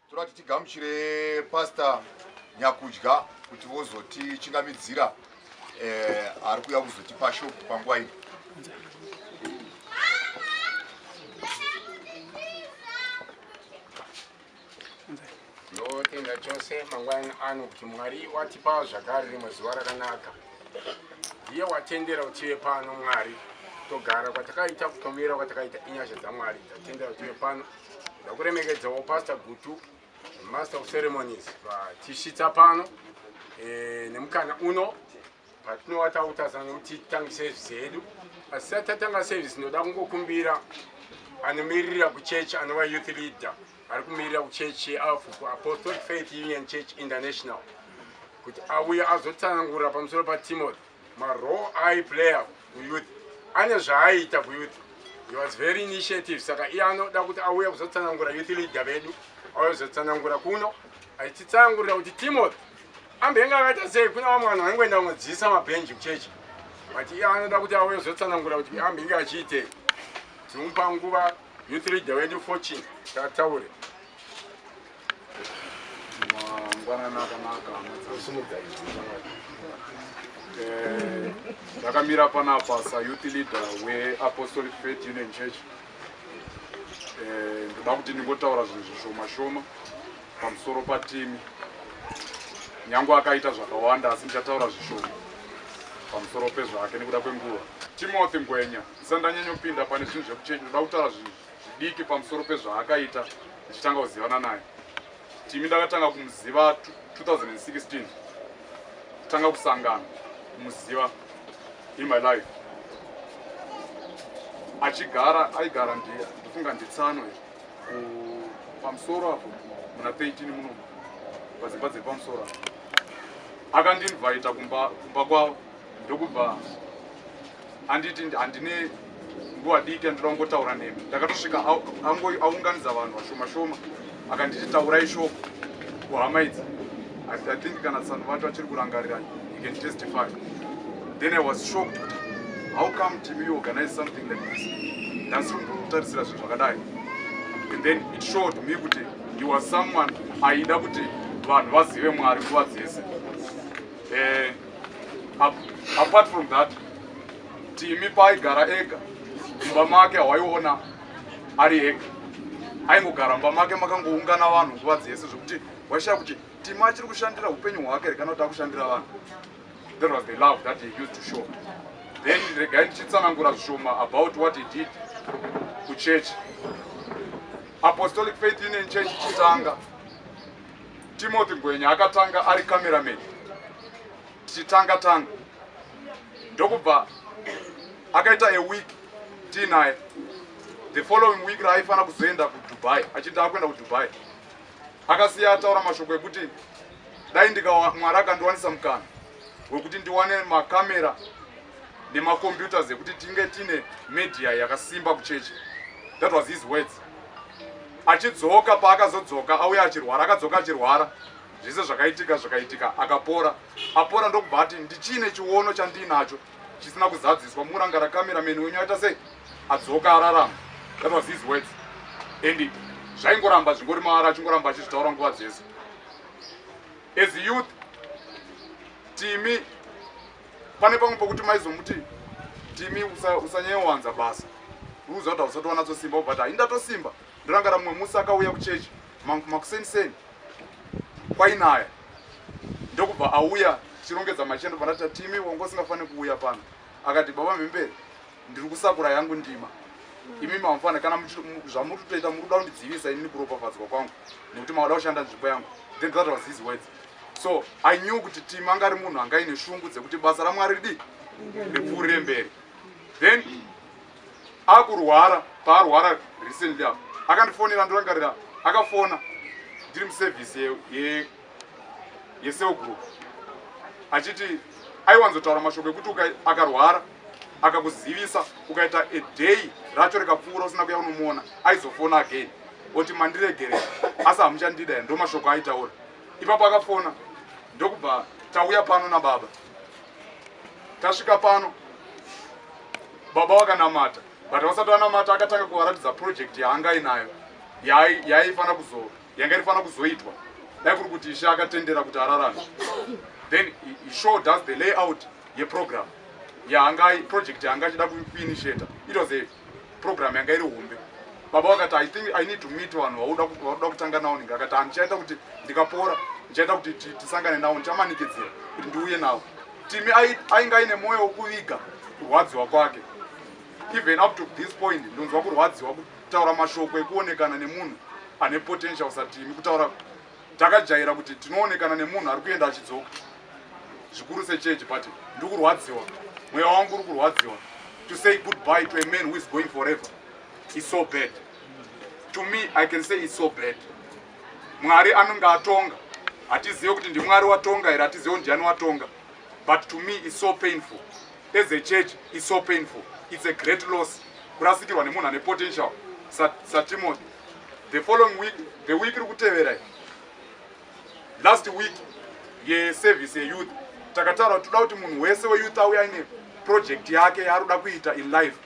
toda kuti tigamuchire pastor nyakudya kuti vozotichingamidzira eh, ari kuya kuzotipa shop panguva ino ndotenda chose mangwana ano kuti mwari watipa zvakare rimwe zuva rakanaka ndiye watendera utive pano mwari togara kwatakaita kutomira kwatakaita inyasha dzamwari tatendera utive pano ndakuremekedzawo pastor gutu master of ceremonies vatisvitsa pano e, nemukana uno patinowa takutarisana kuti titange service yedu asi sati tatanga service ndinoda kungokumbira anomiririra kuchechi anova youth leader ari kumirira kuchechi yealfuku apostolic faith union church international kuti auye azotsanangura pamusoro patimothy Ma role eye player kuyouth ane zvaaita kuyouth. He was very initiative saka iye anoda kuti auye kuzotsanangura youth leader vedu auye kuzotsanangura kuno achitsanangurira kuti Timothy ambenge akaita sei kuna vamwe vanhu vaingoenda kunodziisa mabhenji muchechi but iye anoda kuti auye kuzotsanangura kuti ambenge achiitei tinomupa nguva youth leader wedu fortune taataure mangwanana akanaka eh, ndakamira panapa sayouth leader weapostolic faith union church eh, ndoda kuti ndingotaura zvinhu zvishoma shoma pamusoro patimi nyange akaita zvakawanda asi ndichataura zvishoma pamusoro pezvake nekuda kwenguva timothy ngwenya ndisandanyanyopinda pane zvinhu zvekuchenji ndoda kutaura zvinhu zvidiki pamusoro pezvaakaita ndichitanga kuzivana naye timi ndakatanga kumuziva 2016 tanga kusangana kumuziva in my life achigara aigara ndiye ndofunga nditsanwe pamusoro apo muna 13 muno padzimba dziri pamusoro apo akandinvaita kumba kwavo ndokubva handiti handine nguva diki andida kungotaura nemi ndakatosvika aunganidza vanhu vashoma shoma akanditi taurai shoko kuhama idzi i think kana tsano vacho achiri kurangarira you can testify then i was shocked kuti how come team you organize something like this ndasiri kutarisira zvinhu zvakadai and then it showed me kuti he was someone aida kuti vanhu vazive mwari nguva dzese eh, apart from that timi paaigara ega mumba make hawaiona ari ega aingogara mumba make makangoungana vanhu nguva dzese zvekuti waishaya kuti timi achiri kushandira upenyu hwake here kana kuti akushandira vanhu that was the love that he used to show then regai ndichitsanangura zvishoma about what he did kuchechi apostolic faith union church chitanga Timothy Ngwenya akatanga ari cameraman tichitanga tanga ndokubva akaita a week tiinaye the following week raaifanira kuzoenda kudubai achiti akuenda kudubai akasiya ataura mashoko ekuti dai ndika mwari akandiwanisa mukana wekuti ndiwane makamera nemacomputers ekuti tinge tine media yakasimba kuchechi that was his words achidzoka paakazodzoka auya achirwara akadzoka achirwara zvese zvakaitika zvakaitika akapora apora ndokubva ati ndichine chiono chandiinacho chisina kuzadziswa muranga rakamerameni wenyu aita sei adzoka ararama that was his words and zvaingoramba zvingori maara achingoramba achizvitaura nguva dzese as youth timi pane pamwe pokuti maizomuti timi usanyanyowanza basa ruuza kuti hausati wanatsosimba but hai ndatosimba ndorangara mumwe musi akauya kuchechi makuseniseni kwainaya ndokubva auya tichirongedza machendo pandatita timi wanga usingafaniri kuuya pano akati baba mhembere ndiri kusakura yangu ndima imi mamufana kana zvamuri kutoita muri kuda kundidzivisa inini kuropafadzwa kwangu nekuti mauda kushanda nzvimbo yangu then that was his words so i knew kuti tim anga ari munhu anga ine shungu dzekuti basa ramwari ridi ripfuurire mberi then akurwara paarwara recently apo akandifonera ndorangarira akafona ndiri muservice ye, ye yecell group achiti aiwanzotaura mashoko ekuti akarwara akakuzivisa ukaita a day racho rikapfuura usina kuya unomuona aizofona again oti mandiregere asi hamuchandida ya ndo mashoko aitaura ipapo akafona ndokubva tauya pano nababa tasvika pano baba wakanamata but vasati vanamata akatanga kuvaratidza project yaanga inayo yaaifanira kuzova yanga irifanira kuzoitwa dai kuri kuti ishe akatendera kuti ararame then he showed us the layout yeprogram yaanga project yaanga achida kuinitiata it was a program yanga iri hombe baba vakati i think i need to meet vanhu vauda kutanga navo ninge akati handichaita kuti ndikapora ndichaita kuti tisangane navo ndichamanikidzira kuti ndiuye navo timi ainge aine mwoyo wekuviga kurwadziwa kwake even up to this point ndonzwa kurwadziwa Kutaura mashoko ekuonekana nemunhu ane potential satimi kutaura takajaira kuti tinoonekana nemunhu ari kuenda achidzoka zvikuru sechechi but ndiri kurwadziwa mweya wangu uri kurwadziwa to say goodbye to a man who is going forever is so bad to me i can say is so bad mwari anonge atonga hatizive kuti ndimwari watonga here hatizive kuti ndiani watonga but to me is so painful as a church is so painful it's a great loss kurasikirwa nemunhu ane potential satimothy the following week the week iri kutevera last week yeservice yeyouth takataura kuti toda kuti munhu wese weyouth auye aine project yake yaari kuda kuita in life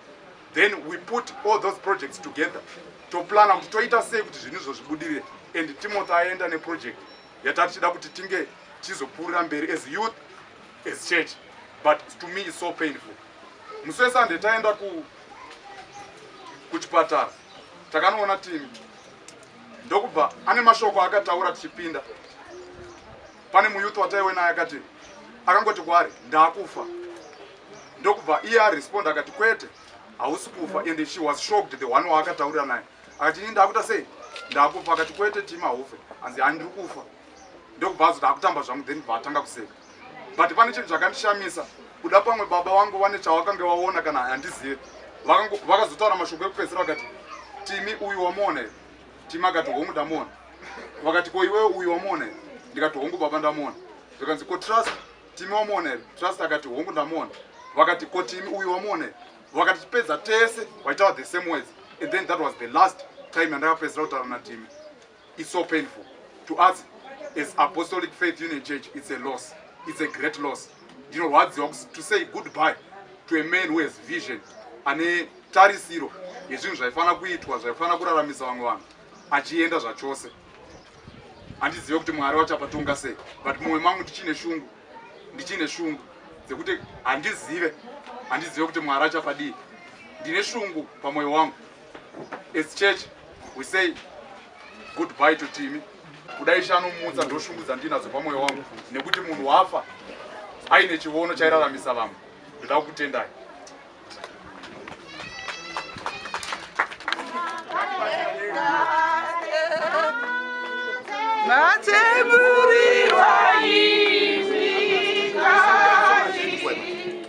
then we put all those projects together toplana kuti toita sei kuti zvinhu izvo zvibudirire and timothy aenda neproject yatati tida kuti tinge tichizopfuurira mberi as youth as church but to me is so painful musi wesunday taenda ku kuchipatara takanoona timi ndokubva ane mashoko akataura tichipinda pane muyuth wataiwe naye akati akangoti kwaari ndaakufa ndokubva iye aresponda akati kwete hausi kufa and she was shocked the one waakataurira naye akati ini ndaakuta sei ndaakufa akati kwete tima haufe hanzi handiri kufa ndokubva azoti akutamba zvangu then bva atanga kuseka but pane chinhu chakandishamisa kuda pamwe baba vangu vane chavakange vaona kana handizive vakazotaura mashoko ekupedzisira vakati timi uyu wamuona here timi akati hongu ndamuona vakati ko iwewe uyu wamuona here ndikati hongu baba ndamuona zvikanzi ko trust timi wamuona here trust akati hongu ndamuona vakati ko timi uyu wamuona here vakati tipedza tese vaitaura the same words and then that was the last time yandakapedzisira kutaura natimi It's so painful to us as Apostolic Faith Union Church. It's a loss. It's a great loss. You know what? To say goodbye to a man who has vision and a tarisiro yezvinhu zvaifanira kuitwa zvaifanira kuraramisa vamwe vanhu achienda zvachose handizive kuti mwari wachapatonga sei but mumwe mangu ndichine shungu ndichine shungu dzekuti handizive handizive kuti mwari achapadii ndine shungu pamwoyo wangu As church we say goodbye to Timi. Kudai shanomutsa ndoshungudza ndinadzo pamwoyo wangu nekuti munhu wafa aine chivono chairaramisa vamwe. Ndoda kukutendai. Mateburi wayi.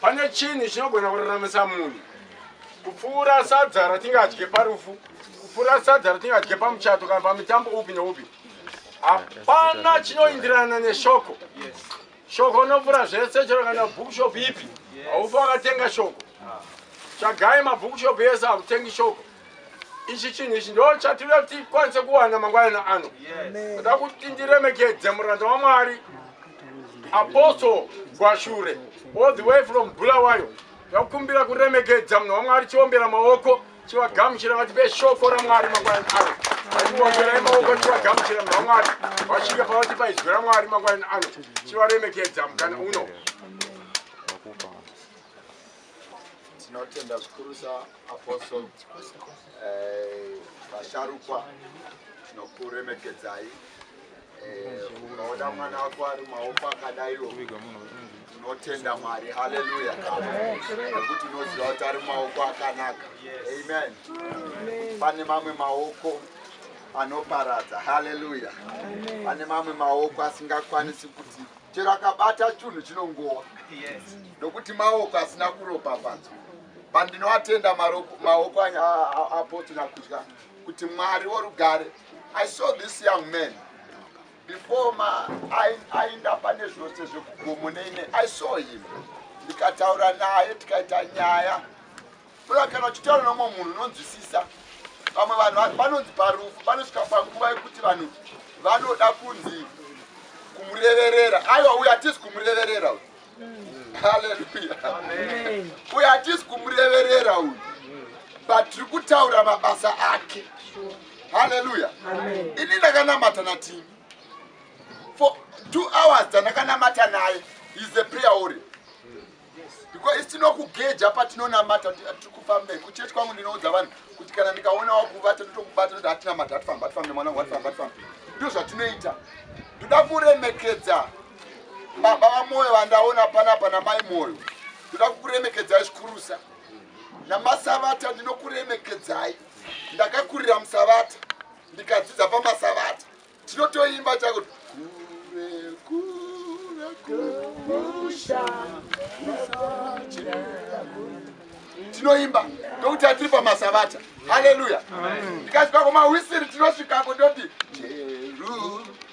Pane chinhu chinogona kuraramisa munhu kupfuura sadza ratingadye parufu, kupfuura sadza ratingadye pamuchato kana pamitambo upi neupi. Hapana chinoindirana neshoko. Shoko unopfuura zvese, chero kana bhukushopu ipi, haufi wakatenga shoko. Tsvagai mabhukushopu ese akutengi shoko. ichi chinhu ichi ndo chatinoda kuti tikwanise kuwana mangwanana ano toda kuti ndiremekedze muranda wamwari apostle gwashure all the way from bulawayo takumbira kuremekedza munhu wamwari chiombera maoko chivagamuchira vatipe shoko ramwari mangwanani ano atiomberai maoko chivagamuchira munhu wamwari vasvika pavatipa izwi ramwari mangwanani ano chivaremekedza mukana uno tinotenda zvikurusa Apostle eh, vasharukwa tinokuremekedzai eh, ukaona mwana wako ari maoko akadaiwo tinotenda mwari haleluya nekuti unoziva kuti ari maoko akanaka amen pane mamwe maoko anoparadza haleluya pane mamwe maoko asingakwanisi kuti chero akabata chunhu chinongowa nokuti maoko asina kuropafadzwa pandinoatenda maoko anya apostina kudya kuti mwari worugare i saw this young man before ma ainda pane zvose zvekugomo neine i saw him ndikataura naye tikaita nyaya toda kana uchitaura nomwe munhu unonzwisisa vamwe vanhu vanonzi parufu panosvika panguva yekuti vanhu vanoda kunzi kumureverera aiwa uyo hatisi kumureverera uyo haleluya uyu hatisi kumureverera uyu but tiri kutaura mabasa ake haleluya ini ndakanamata natimi for two hours dzandakanamata naye is the prayer ori because tinokugeja patinonamata tiri kufamba kuchechi kwangu ndinoudza vanhu kuti kana ndikaona wakuvata ndotokubata noti hatinamata hatifamba hatifambe mwana wangu hatifamba hatifamba ndo zvatinoita ndoda kuremekedza baba vamoyo vandaona panapa namai moyo ndoda kukuremekedzai zvikurusa namasavata ndinokuremekedzai ndakakurira musavata ndikadzidza pamasavata tinotoimba chakuti kure kure kumusha tinoimba ndokuti atiri pamasavata haleluya ndikasvika kumahwisiri tinosvikako ndoti jeru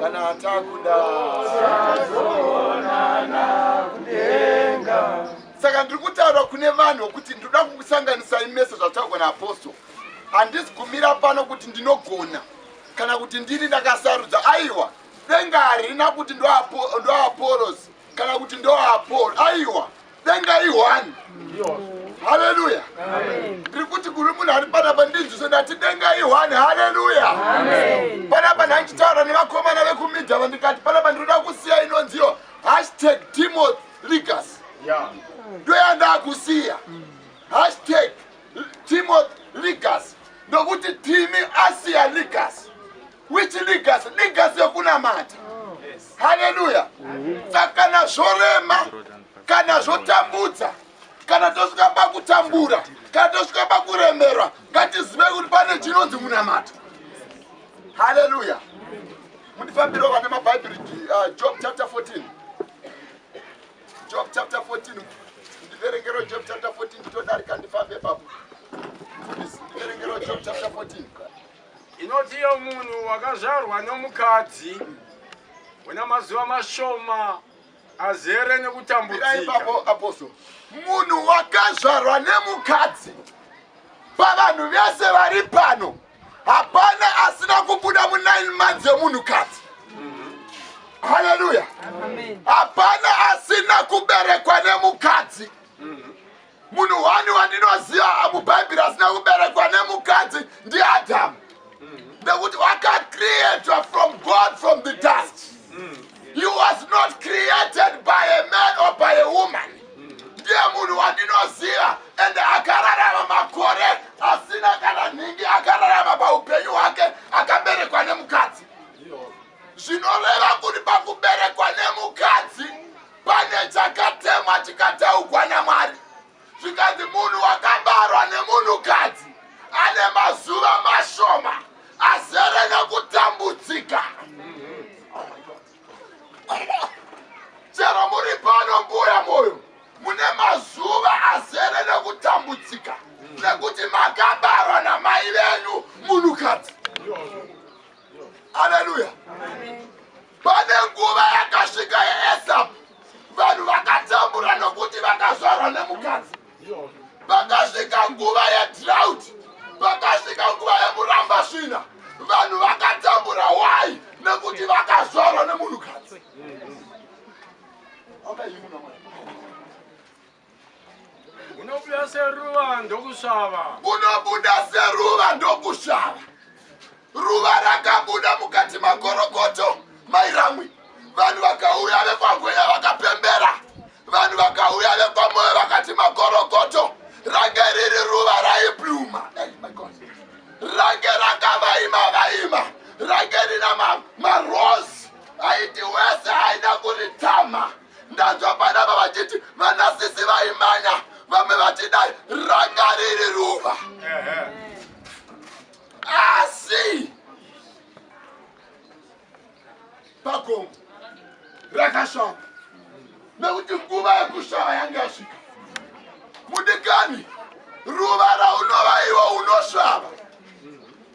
kana atakuda saka ndiri kutaura kune vanhu kuti ndinoda kukusanganisai mese zvataurwa naapostle handisi kumira pano kuti ndinogona kana kuti ndini ndakasarudza aiwa denga harina kuti ndoaporosi kana kuti ndoaporo aiwa denga ihwani haleluya ndiri kuti kuri munhu ari panapa ndinzwise ndati denga ihwani haleluya panapa ndandichitaura nevakomana vekumidha vandikati panapa ndinoda kusiya inonziyo hashtag timoth legas ndoyandakusiya hashtag timoth legas ndokuti timi asiya legas which legacy legacy yokunamata haleluya saka kana zvorema kana zvotambudza kana tosvika pakutambura kana tosvika pakuremerwa ngatizive kuti pane chinonzi munamato haleluya mundifambiro vane mabhaibheri uh, job chapter 14 job chapter 14 ndiverengero job chapter 14 nditodarika ndifambe papo ndiverengero job chapter 14 Inoti iyo munhu wakazvarwa nomukadzi una mazuva mashoma azere nekutambudzika. Munhu wakazvarwa nemukadzi pavanhu vese vari pano hapana asina kubuda mu 9 months yemunhu kadzi haleluya hapana asina kuberekwa nemukadzi munhu wani wandinoziva mubhaibheri asina kuberekwa nemukadzi ndiadhamu nekuti wakacreatwa from god from the dust he was not created by a man or by a woman ndiye munhu wandinoziva ende akararama makore asina kana nhingi akararama paupenyu hwake akaberekwa nemukadzi zvinoreva kuti pakuberekwa nemukadzi pane chakatemwa chikateugwa namwari zvikanzi munhu wakabarwa nemunhukadzi ane mazuva mashoma azere nekutambudzika chero muri pano mbuya moyo mune mazuva azere nekutambudzika nekuti makabarwa namai venyu munhukadzi aleluya Pane nguva yakasvika yaEsapu, vanhu vakatambura nokuti vakazvarwa nemukadzi. Pakasvika nguva yedrought, pakasvika nguva yemuramba svina, vanhu vakatambura wai nekuti vakazvarwa nemunhukadzi. Unobuda seruva ndokushava. Unobuda seruva ndokushava. Ruva rakabuda mukati makorokoto mairamwi. Vanhu vakauya vekwangwenya vakapembera. Vanhu vakauya vekwamoyo vakati makorokoto range riri ruva raibluma. Range rakavaima vaima. Range rina marose ma aiti wese aida kuritama. Ndanzwa vana ava vachiti vanasisi vaimanya vamwe vachidai ranga riri ruva asi pagomo rakashava nekuti nguva yekushava yange yasvika mudikani ruva raunovaiwa unosvava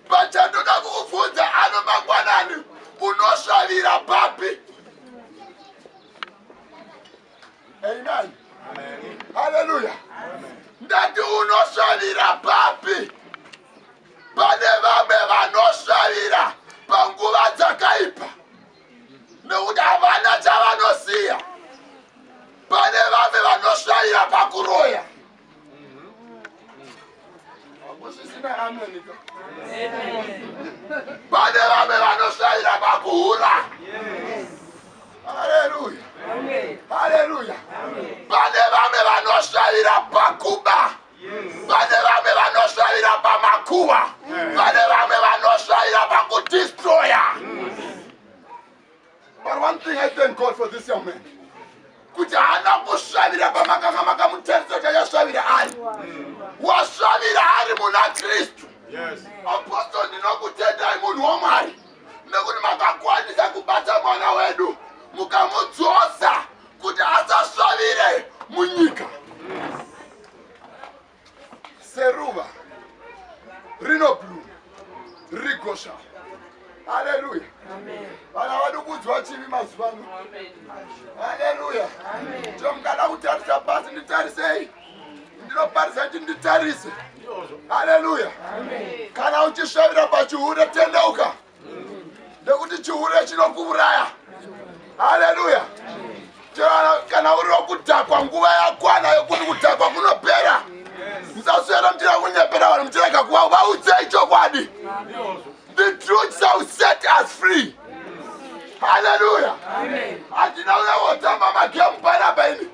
Pachandoda kukubvunza ano mangwanani unosvavira papi? Amen. Hallelujah. Ndati unosvavira papi? Pane vamwe vanosvavira panguva dzakaipa nekuti havana chavanosiya. Pane vamwe vanosvavira pakuroya. Amen. Amen. Pane vamwe vanoshayira pakuhura. Haleluya. Haleluya. Pane vamwe vanoshayira pakuba. Pane vamwe vanoshayira pamakuva. Pane vamwe vanoshayira pakudistroya. But one thing I thank God for this young man. Kuti haana kushavira pamakanga makamutarisa chayashavira ari. Washavira ari muna Kristu. Yes. Apostle ndinokutendai munhu waMwari. Nekuti makakwanisa kubata mwana wedu mukamudzosa kuti asashavire munyika. seruva rinobluma rigosha haleluya vana vadi kuudzwa chivi mazuva ano haleluya to mukada kutarisa pasi nditarisei ndinoparisa kuti nditarise haleluya kana uchisvavira pachihure tendeuka nekuti chihure chinokuuraya haleluya kana uri wokudhakwa nguva yakwana yokuti kudhakwa kunopera musaswera muchira kunyepera vanhu muchirega kuva vaudzei chokwadi the truth shall set us free haleluya handina uya wotamba magemu panapa ini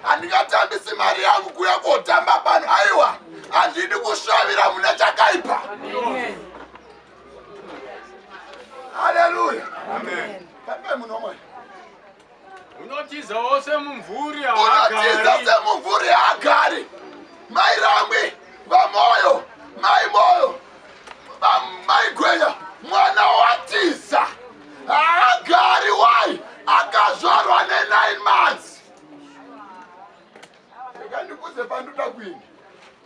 handingatambisi mari yangu kuya kotamba pano aiwa handidi kusvavira mune chakaipa Amen. haleluya pambe munhu wamwari unotizawo semumvuri unotiza semumvuri haagari mai ramwi vamoyo mai moyo mai gwenya mwana watiza haagari wai akazvarwa ne9 months ekandikuze panduda kuini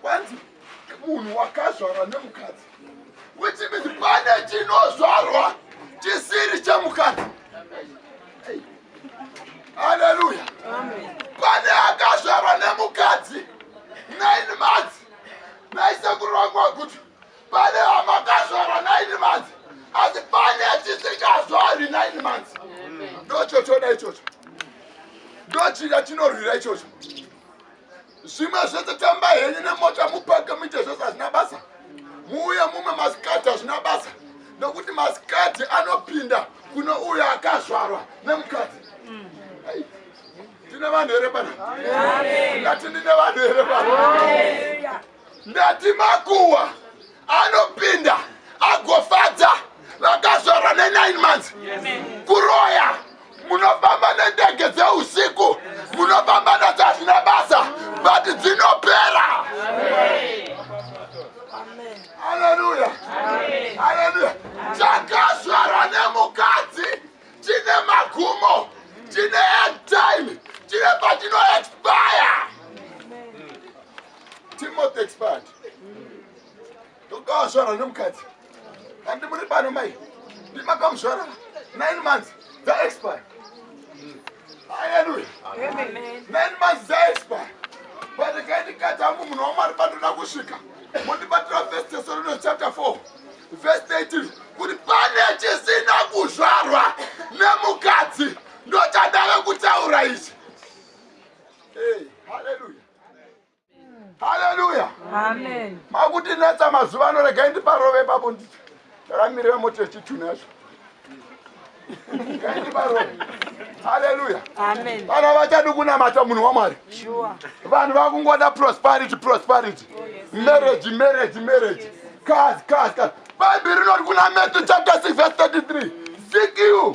kwanzi munhu wakazvarwa nemukadzi which means pane chinozvarwa chisiri chemukadzi haleluya pane akazvarwa nemukadzi nine months naisekuru vangu vakuti pane amakazvarwa nine months asi pane chisingazvarwi nine months ndochochoda ichocho ndochida chinorwira ichocho zvimwe zvese tamba henyu nemota mupake muite zvese hazvina basa muuye mumwe masikati hazvina basa nokuti masikati anopinda kuno uyo akazvarwa nemukadzi tine vanhu here pana ngati ndine vanhu here pana Ndati makuwa anopinda agofadza vakazvarwa ne9 months kuroya munofamba nendege dzeusiku munofamba nadzo hazvina basa but dzinopera aleluya aleluya chakazvarwa nemukadzi chine magumo chine time chine pachinoexpire Timothy expand. Ndokawazvara nemukadzi. Handi muri pano mai. Ndimakamuzvara 9 months dza expire. Hallelujah. Amen. 9 months dza expire. But kaini kati hangu munhu wamwari pandoda kusvika. Mondibatira first Thessalonians chapter 4 verse 18 kuti pane chisina kuzvarwa nemukadzi ndochadave kutaura ichi. Hey, hallelujah. haleluya makuti natsa mazuva ano regai ndiparove papo ndi takamirira moto yechitune yacho regai ndiparove haleluya vana vachadi kunamata munhu wamwari vanhu vakungoda prosperity prosperity oh, marriage marriage marriage cars cars cars bhaibheri rinoti kuna matthew chapter 6 verse 33 seek you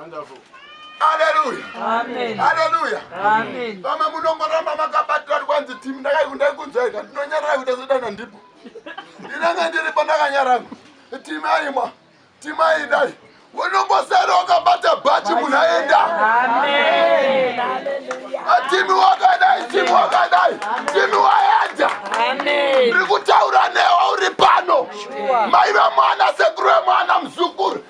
Wonderful. Hallelujah. Amen. Hallelujah. Amen. Mama munongoramba makabatira kwanzi team ndakaikundai kunzwaika ndinonyarara kuita sedana ndipo. Ndinenge ndiripo ndakanyarara. Team aimwa. Team aidai. Unongosara wakabata bhachi munhu aenda. Amen. Hallelujah. Team wakadai, team wakadai. Team waenda. Amen. Ndiri kutaura newe uri pano. Mai vemwana sekuru vemwana muzukuru.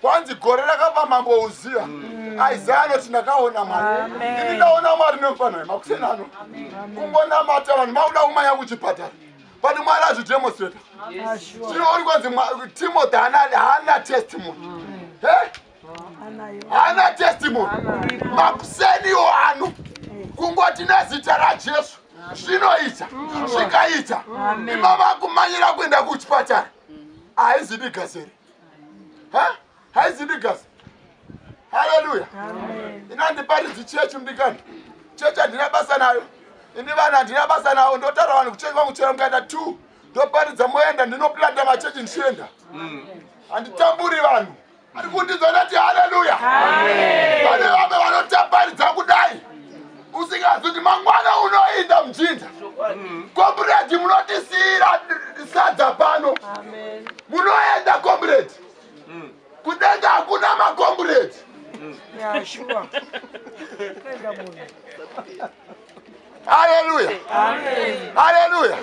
kwanzi gore rakafa mambo uziya mm. isaya anoti ndakaona mwari ndini ndaona mwari nemufanha wemakuseni ano kungonamata vanhu makuda kumanya kuchipatara but mwari azvidemonstrata tinooni kwanzi timothy haana testimony mm. haana testimony makuseniwo ano kungoti nezita rajesu zvinoita mm. zvikaita imava kumanyira kuenda kuchipatara haizidi gazeri haizi ndigas haleluya inandiparidzi chechi mdikani chechi handina basa nayo ini vanhu handina basa nawo ndotaura vanhu kuchechi vangu chera mukaita two ndoparidza moenda ndinoplanda machechi ndichienda mm. handitamburi vanhu ari kundizonati haleluya vane vamwe vanotaparidza kudai usingazoti mangwana unoinda mujinja komburedi munotisiyira sadza pano munoenda komburedi kudenga hakuna makomburedi haleluya haleluya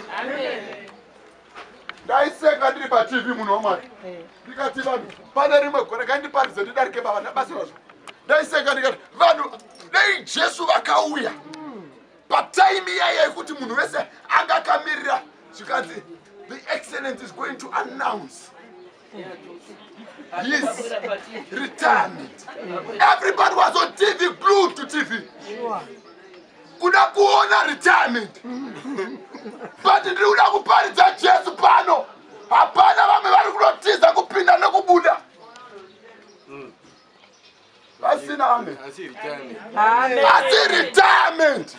ndaiseka ndiri patv munhu wamwari eh. ndikati vanhu pane rimwe gore ngandiparidze ndidarike baba ndabatsirwa zvo ndaiseka ndikati vanhu dei jesu vakauya pataimi iyaya yekuti munhu wese anga akamirira zvikanzi the excellence is going to announce Yes. Retirement. Everybody was on TV, glued to TV. Sure. kuda kuona retirement but ndiri kuda kuparidza jesu pano hapana vamwe vari kunotiza kupinda nekubuda Asina amen. Asi retirement. Amen. Asi retirement.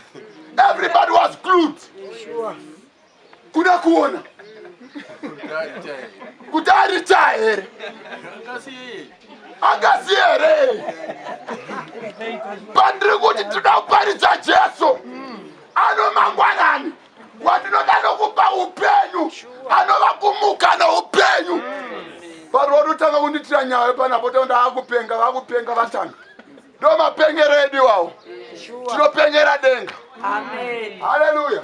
Everybody was glued. Sure. Kuda kuona. Kuti aritire here? Angasi here? Pandiri kuti tinoparidza Jesu. Ano mangwanani. wandinoda nokupa upenyu anova kumuka noupenyu varo vanotanga kunditira nyaya panapo ta ndaakupenga vakupenga vatanga ndo mapengero edu iwawo tinopengera denga haleluya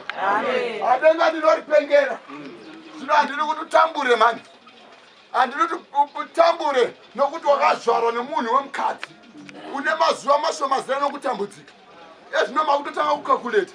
adenga ndinoripengera zvino handiri kuti utambure mani handiri kuti utambure nokuti wakazvarwa nemunhu wemukadzi une mazuva mashoma zera nokutambudzika ezvino makutotanga kukakuleta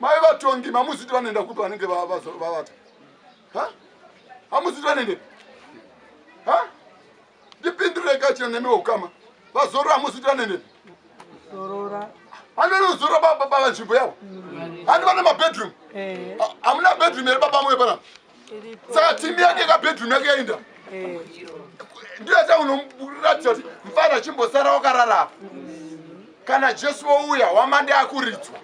Mai vatongi mamuziti vanoenda kupi vanenge vavata? Ha? Hamuziti vanoenda? Ha? Ndipindure kachira nemi ukama. Vazorora hamuziti vanoenda? Zorora. Hande nozorora baba baba nzvimbo yavo. Hande vana mabedroom. Eh. Hamuna bedroom here baba mwe pana? saka timi yake kabedroom yake yainda eh. ndiyo yata unomuratidza kuti mfana achimbosara wakararapa kana jesu wouya wamande akuridzwa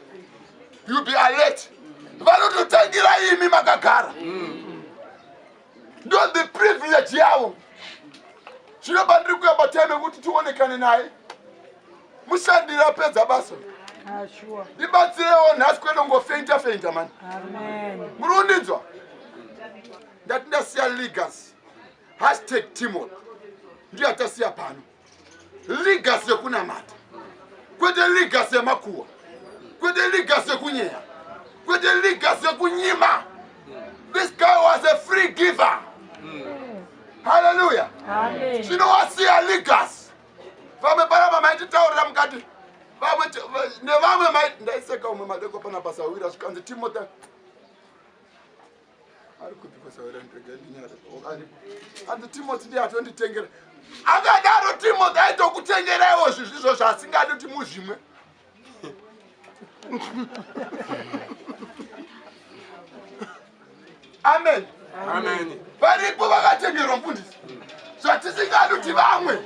you be alert vanototangira imi makagara ndo the privilege yavo zvino pandiri kuyamba time kuti tionekane naye mushandira apedza basa ndibatsirewo nhasi kwete kungofeinta feinta mani muri kundinzwa ndati ndasiya legacy hashtag timon ndiyo yatasiya pano legacy yekunamata kwete legacy yemakuwa kwete legacy yekunyeya kwete legacy yekunyima this guy was a free giver mm. hallelujah chinowasiya legacy vamwe paramba maititaurira mukati vamwe nevamwe mai ndaiseka umwe madeko pana pasawira zvikanzi timota ari kupi pasawira ndega ndinyara anzi timoti ndiye atonditengera akadaro timoti aitokutengeraiwo zvizvizvo zvaasingadi kuti muzvimwe amen varipo vakatengerwa mfundisi zvatisingadi kuti vamwe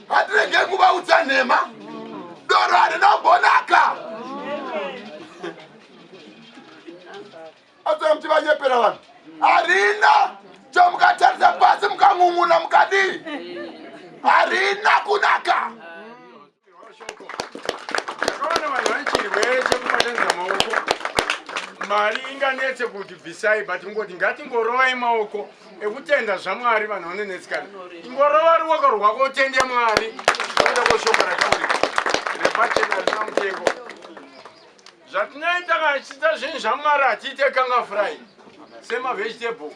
hatirege kuvaudza nhema doro harina kumbonaka atsona kuti vanyepera vanhu harina chomukatarisa pasi mukang'ung'una mukadii harina kunaka Ndakaona vanhu vane chirwere chekubatanidza maoko. Mari inganetse kuti bvisai but ngoti ngatingorovai maoko ekutenda zvaMwari vanhu vanonetsikana. Ingorova ruoko rwako utende Mwari zvekuda kweshoko rataurika. Repachena rina mutengo. Zvatinoita kana tichiita zvinhu zvaMwari hatiite kanga fry. Sema vegetable.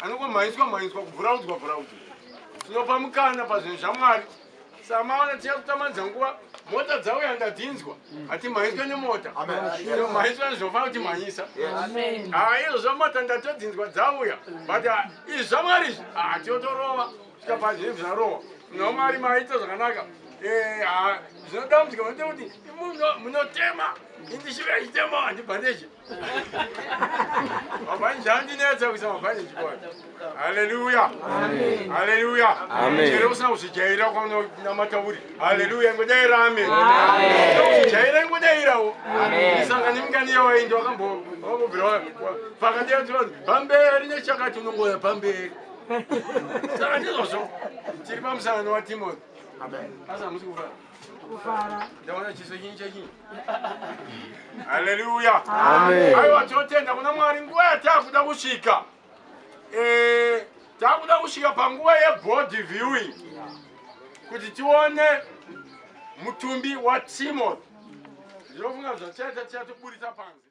Anongomhanyiswa mhanyiswa kubvuraudzwa bvuraudzwa. Tinopa mukana pazvinhu zvaMwari. samaona tiya kutamanidza nguva mota dzauya ndadzinzwa hati mhanyiswa nemota mhanyiswa nezvofana kuti mhanyisa haa izvo zvamota ndatodzinzwa dzauya but ah, izvi zvamwari izvi haa tiotorova zvikapa zvinhu zvarowa nomwari maita zvakanaka eh, haa zvinodambudzika vanoita kuti munotema indishiva ichitema handibhandeje Hallelujah. Amen. Hallelujah. Amen. Chero usina kuzijaira kwa namata uri. Hallelujah. Ngodaira amen. Amen. Uzijaira ngodaira wo. Amen. Sanga nimkani yawo indi wakambo wakubvira pakati ya tsono. Pamberi nechakati unongoya pamberi. Sanga ndizvo. Tiri pamusana wa Timothy. Amen. Asa musikufa. kufara ndaona chiso chinyi chachinyi haleluya aiwa tinotenda kuna mwari nguva yataakuda kusvika eh, taakuda kusvika panguva yebody viewing kuti tione mutumbi watimothy ndinofunga zvatichaita tichatoburitsa panze